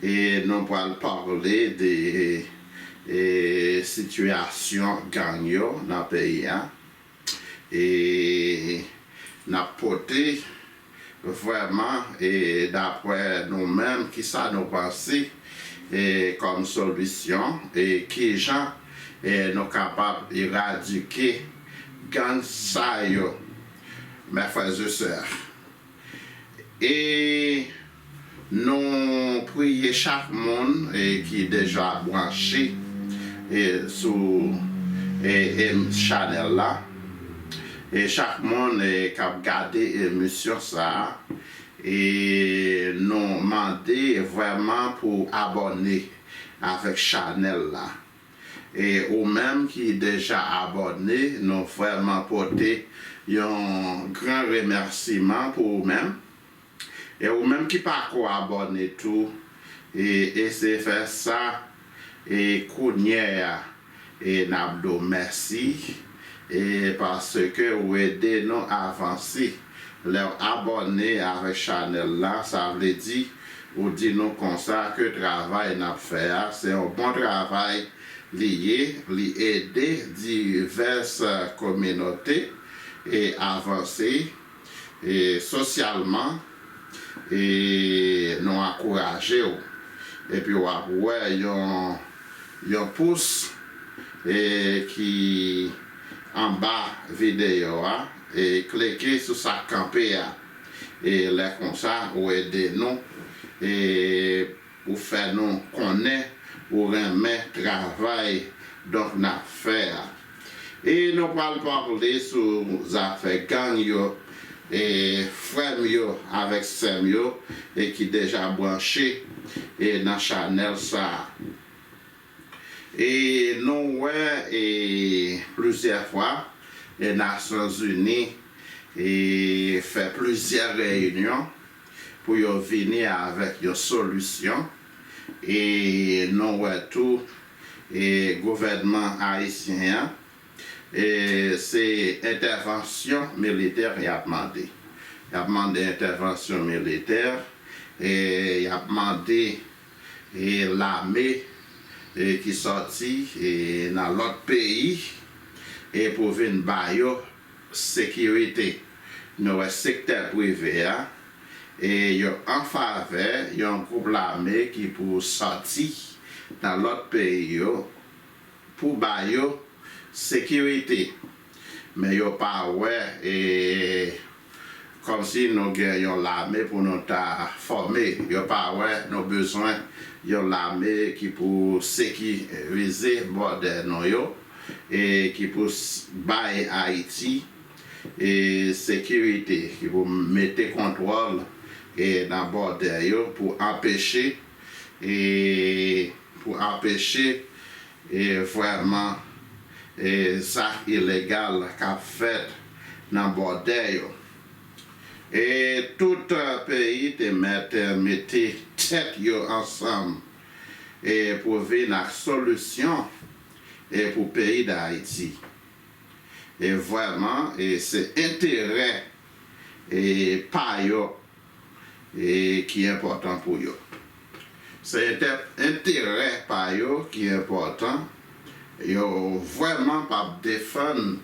E nou pral pale de sitiyasyon gang yo nan peyi a. E n ap pote vrèman e daprè nou menm ki sa nou panse kòm solisyon e ki jan nou kapab eradike gang sa yo. Mè frè e sè. E nou priye chak moun ki deja branche sou chanèl la, e chak moun kap gade emisyon sa a, e nou mande vrèman pou abòne avèk chanèl la. E ou menm ki deja abòne nou vrèman pote yon gran remèsiman pou ou menm. E ou menm ki pako abòne tou e eseye fè sa e kounyè a e nap di w mèsi. E paske ou ede nou avanse lèw abòne avèk chanèl la sa vle di ou di nou konsa ke travay nap fè a se yon bon travay li ye li ede divès kominote avanse E sosyalman e nou ankouraje w epi w ap wè yon yon pous e ki anba videyo a e klike sou sa k kanpe a e lè konsa ou ede nou e Ou fè nou konnen ou renmen travay donk n ap fè a. E nou pral pale sou zafè gang yo e frè m yo avèk sè m yo e ki deja branche e nan chanèl sa a. E nou wè e plizyè fwa e Nasyonzini e fè plizyè reyinyon pou yo vini avèk yon solisyon e nou wè tou e gouvènman ayisyen an e se entèvansyon militè y ap mande y ap mande entèvansyon militè e y ap mande e lame e ki sòti e nan lòt peyi e pou vin ba yo Sekirite, Nou wè sektè prive a, e yo anfavè yon gwoup lame ki pou sòti nan lòt peyi yo pou ba yo sekirite. Men yo pa wè e kòm si nou gen yon lame pou nou ta fòme. Yo pa wè nou bezwen yon lame ki pou sekirize bòdè nou yo. ki pou bay Ayiti sekirite, ki pou mete kontwòl nan bòdè yo pou anpeche pou anpeche vrèman zak ilegal k ap fèt nan bòdè yo. E tout peyi te mèt mete tèt yo ansanm pou vin ak solisyon. e pou peyi dayiti e vreman e se enterè e pa yo e ki enpotan pou yo se entè enterè pa yo ki enpotan yo vreman pap defann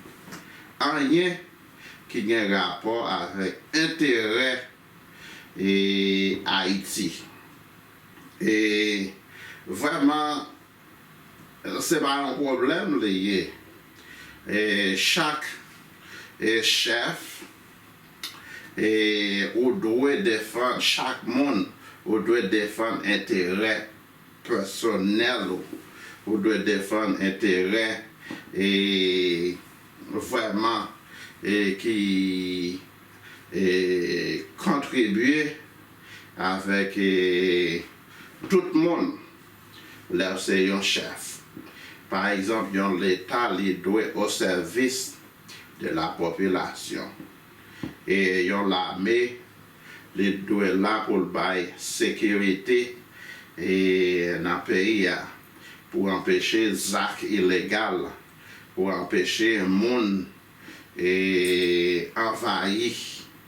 anyen ki gen rapò avek enterè e ayiti e vreman. Se pa yon pwoblèm li ye. Chak chèf ou dwe defann chak moun, ou dwe defann enterè pèsonèl ou, ou dwe defann enterè vrèman ki kontribye avèk tout moun. lè w se yon chèf. Pa egzanp, yon Leta li dwe o sèvis de la popilasyon. E yon lame li dwe la pou l bay sekirite e nan peyi a, pou anpeche zak ilegal, pou anpeche moun e anvayi.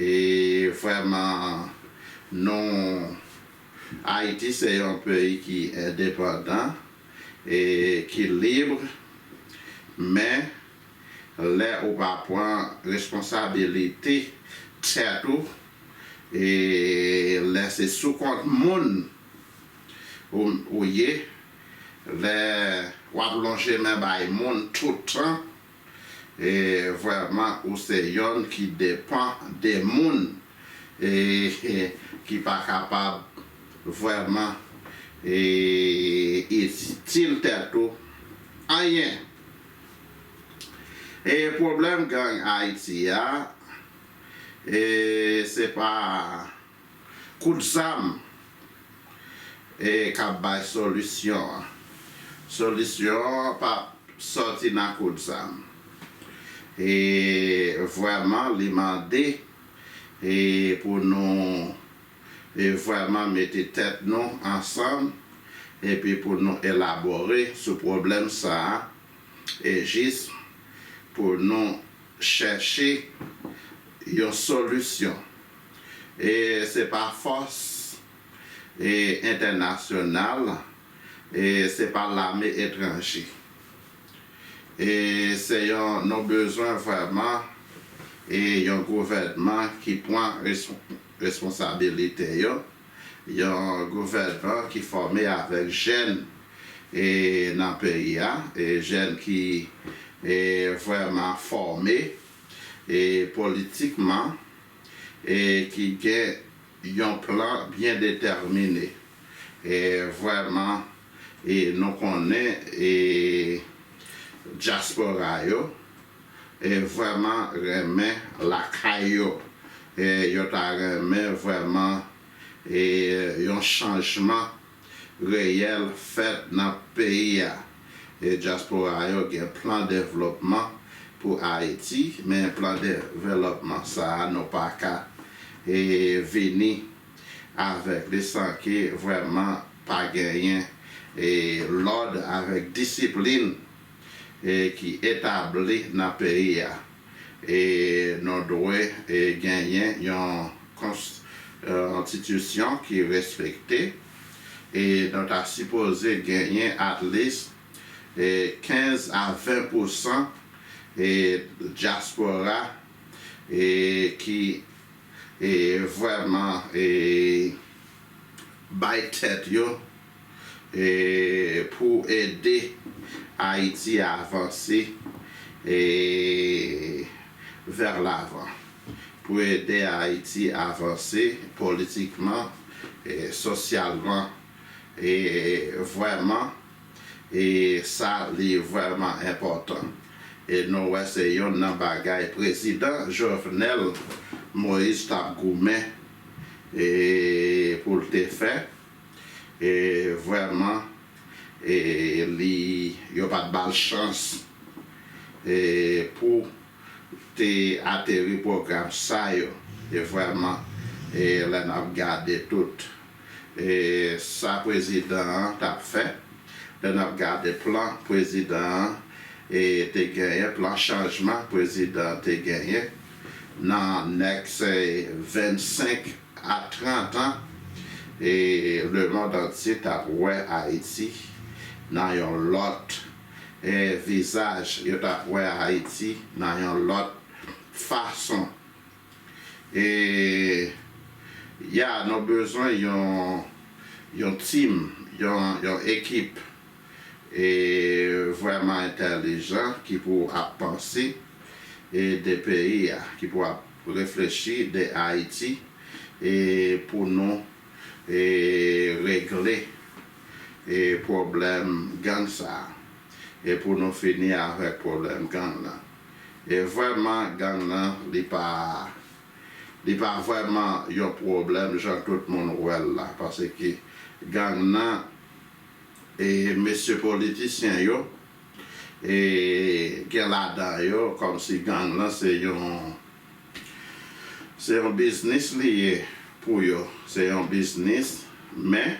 E vrèman nou Ayiti se yon peyi ki endepandan e ki libre men lè ou pa pran responsabilite tèt ou e lè se sou kont moun ou ye lè wap lonje men bay moun tout tan e vrèman ou se yonn ki depan de moun e ki pa kapab vrèman e itil tèt ou anyen e pwoblèm gang ayiti a e se pa. Kout zam ka bay solisyon an. Solisyon an pa soti nan kout zam. E vrèman li mande pou nou vrèman mete tèt nou ansanm epi pou nou elabore sou pwoblèm sa a e jis pou nou chèche yon solisyon. E se pa fòs entènasyonal, e se pa lame etranje. E se yon nou bezwen vrèman e yon gouvènman ki pran responsabilite yo, yon gouvènman ki fòme avèk jèn e nan peyi a, e jèn ki e vrèman fòme e politikman. e ki gen yon plan byen detèmine e vrèman e nou konnen e dyaspora yo e vrèman renmen lakay yo e yo ta renmen vrèman e yon chanjman. reyèl fèt nan peyi a. E dyaspora yo gen plan devlopman pou Ayiti, men plan developman sa a nou pa ka vini avèk li san ke vrèman pa genyen lòd avèk disiplin ki etabli nan peyi a. E nou dwe genyen yon konstitisyon ki respekte e nou ta sipoze genyen at least 15 a 20 pousan dyaspora ki vwèman bay tèt yo pou ede Ayiti avanse vèr lavan, pou ede Ayiti avanse politikman, sosyalman, e vwèman e sa li vwèman enpòtan. E nou wè se yonn nan bagay prezidan Jovenel Moïse t ap goumen pou l te fè. E vrèman e li yo pat bal chans e pou te ateri pwogram sa yo e vrèman e lè nap gade tout e sa prezidan an tap fè lè nap gade plan prezidan an e te genyen plan chanjman prezidan te genyen. Nan next 25 a 30 an e le mond antye tap wè Ayiti nan yon lòt e vizaj yo tap wè Ayiti nan yon lòt fason e ya nou bezwen yon yon team yon ekip. E vreman entelijan ki pou ap panse e de peyi a ki pou ap reflechi de ayiti e pou nou e regle e pwoblem gang sa e pou nou fini avek pwoblem gang nan e vreman gang nan li pa li pa vreman yon pwoblem jan tout moun wel la paske gang nan e mesye politisyen yo e gen ladan yo kòmsi gang lan se yon se yon biznis li ye pou yo se yon biznis men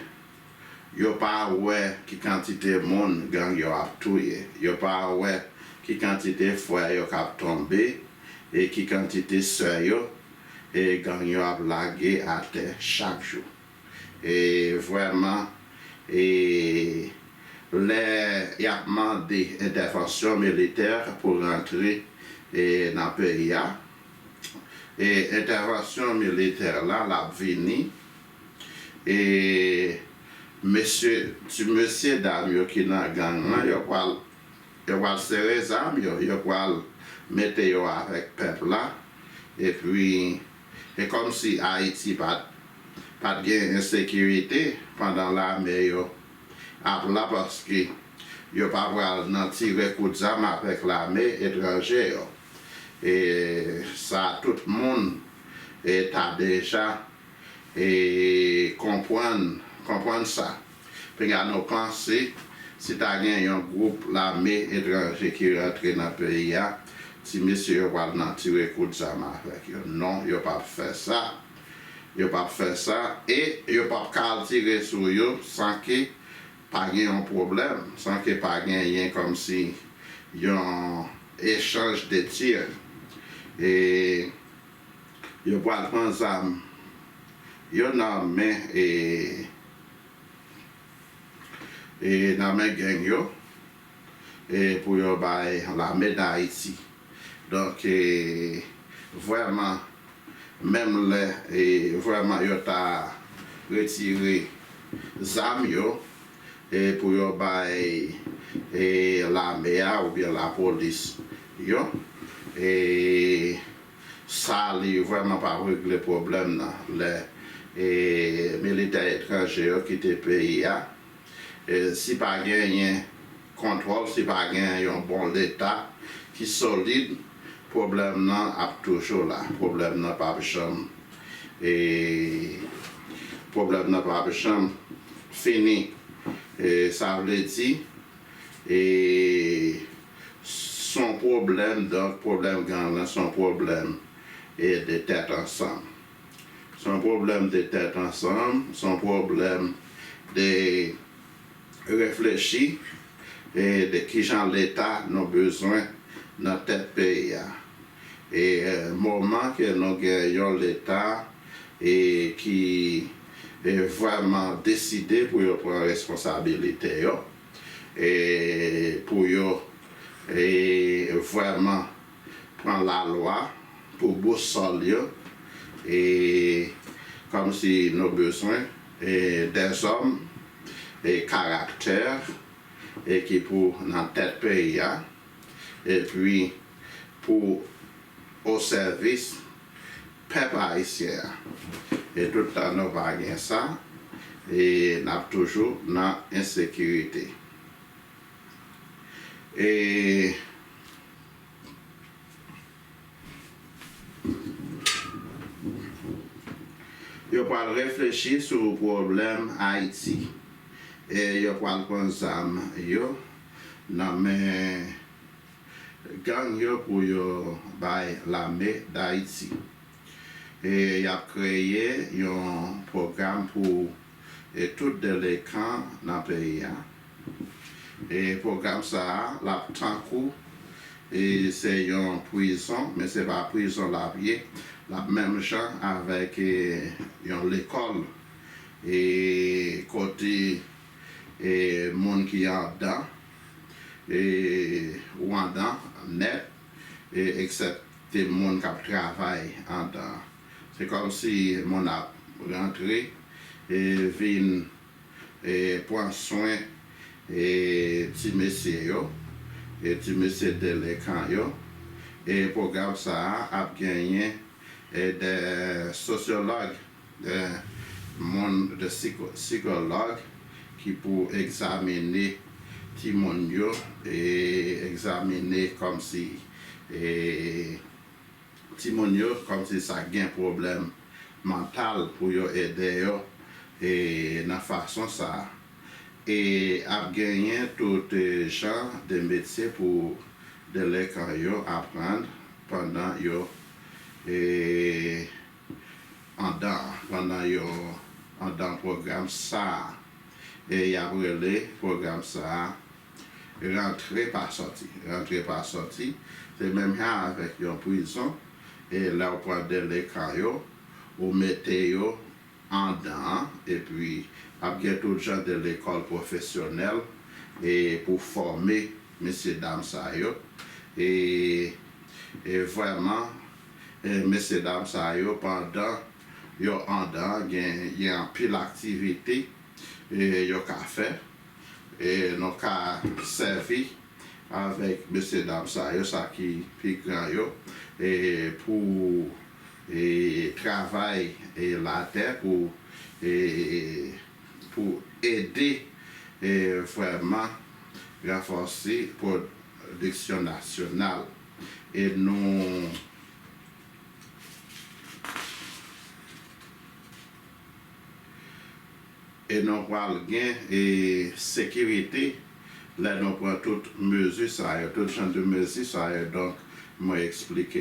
yo pa wè ki kantite moun gang yo ap touye yo pa wè ki kantite frè yo kap tonbe e ki kantite sè yo e gang yo ap lage atè chak jou. e vrèman e lè yap mande entèvansyon militè pou rantre e nan peyi a e entèvansyon militè la lap vini e mesye ti mesye dam yo ki nan gang lan yo pwal yo pwal sere zam yo yo pwal mete yo avèk pèp la epi E kòmsi Ayiti pat pat gen ensekirite pandan lame yo ap la paske yo pa pral nan tire kout zam avèk lame etranje yo e sa tout moun ta deja konprann konprann sa. Pegano panse si ta gen yon gwoup lame etranje ki rantre nan peyi a, ti mesye yo pral nan tire kout zam avèk yo. Non, yo p ap fè sa. Yo p ap fè sa e yo p ap ka al tire sou yo san ke pa gen yon pwoblèm, san ke pa genyen kòmsi yon echanj de tir. E Yo pral pran zam yo nan men e nan men gang yo e pou yo bay lame dayiti donk e vrèman menm lè e vrèman yo ta retire zam yo e pou yo bay e lame a oubyen lapolis yo e. Sa li vrèman pa regle pwoblèm nan lè e militè etranje yo kite peyi a. E si pa genyen kontwòl, si pa genyen yon bon leta ki solid, pwoblèm nan ap toujou la. Pwoblèm nan pap janm e pwoblèm nan pap janm fini. E sa vle di e. Son pwoblèm donk pwoblèm gang lan son pwoblèm e de tèt ansanm. Son pwoblèm de tèt ansanm, son pwoblèm de reflechi e de kijan leta nou bezwen nan tèt peyi a. E moman ke nou gen yon leta e ki vrèman deside pou yo pran responsabilite yo. pou yo vrèman pran lalwa pou bousòl yo kòmsi nou bezwen dèzòm karaktè ki pou nan tèt peyi a epi pou osèvis Pèp ayisyen an e tout tan nou pa gen sa e nap toujou nan ensekirite e yo pwal reflechi sou pwoblèm ayiti e yo pwal pran zam yo nan men Gang yo pou yo bay lame dayiti. E yap kreye yon pwogram pou e tout delekan nan peyi a. E pwogram sa a lap tankou e se yon pwizon men se pa pwizon lap ye lap menm jan avèk e yon lekòl e kote e moun ki andan. Rwandan nèt eksepte moun k ap travay andan. Se kòm si moun ap rantre vin pran swen ti mesye yo, ti mesye delenkan yo. Pwogram sa a ap genyen 2 sosyològ The moun the sikològ ki pou egzamine timoun yo e egzamine kòmsi e timoun yo kòmsi sa k gen pwoblèm mantal pou yo ede yo e nan fason sa e ap genyen tout jan de metye pou delekan yo aprann pandan yo e. andan pandan yo andan pwogram sa a e y ap rele pwogram sa a rantre pa sòti. Rantre pa sòti se menm jan avèk yon prizon e lè w pran delekan yo ou mete yo andan an epi ap gen tout jan de lekòl pwofesyonèl e pou fòme mesye dam sa yo e vrèman Mesye dam sa yo pandan yo andan gen anpil aktivite yo ka fè e nou ka sèvi avèk mesye dam sa yo sa ki pi gran yo pou travay latè pou ede vrèman ranfòse pwodiksyon nasyonal. E nou. E nou pral gen e sekirite lè nou pran tout mezi sa yo, tout jan de mezi sa yo donk mwen eksplike.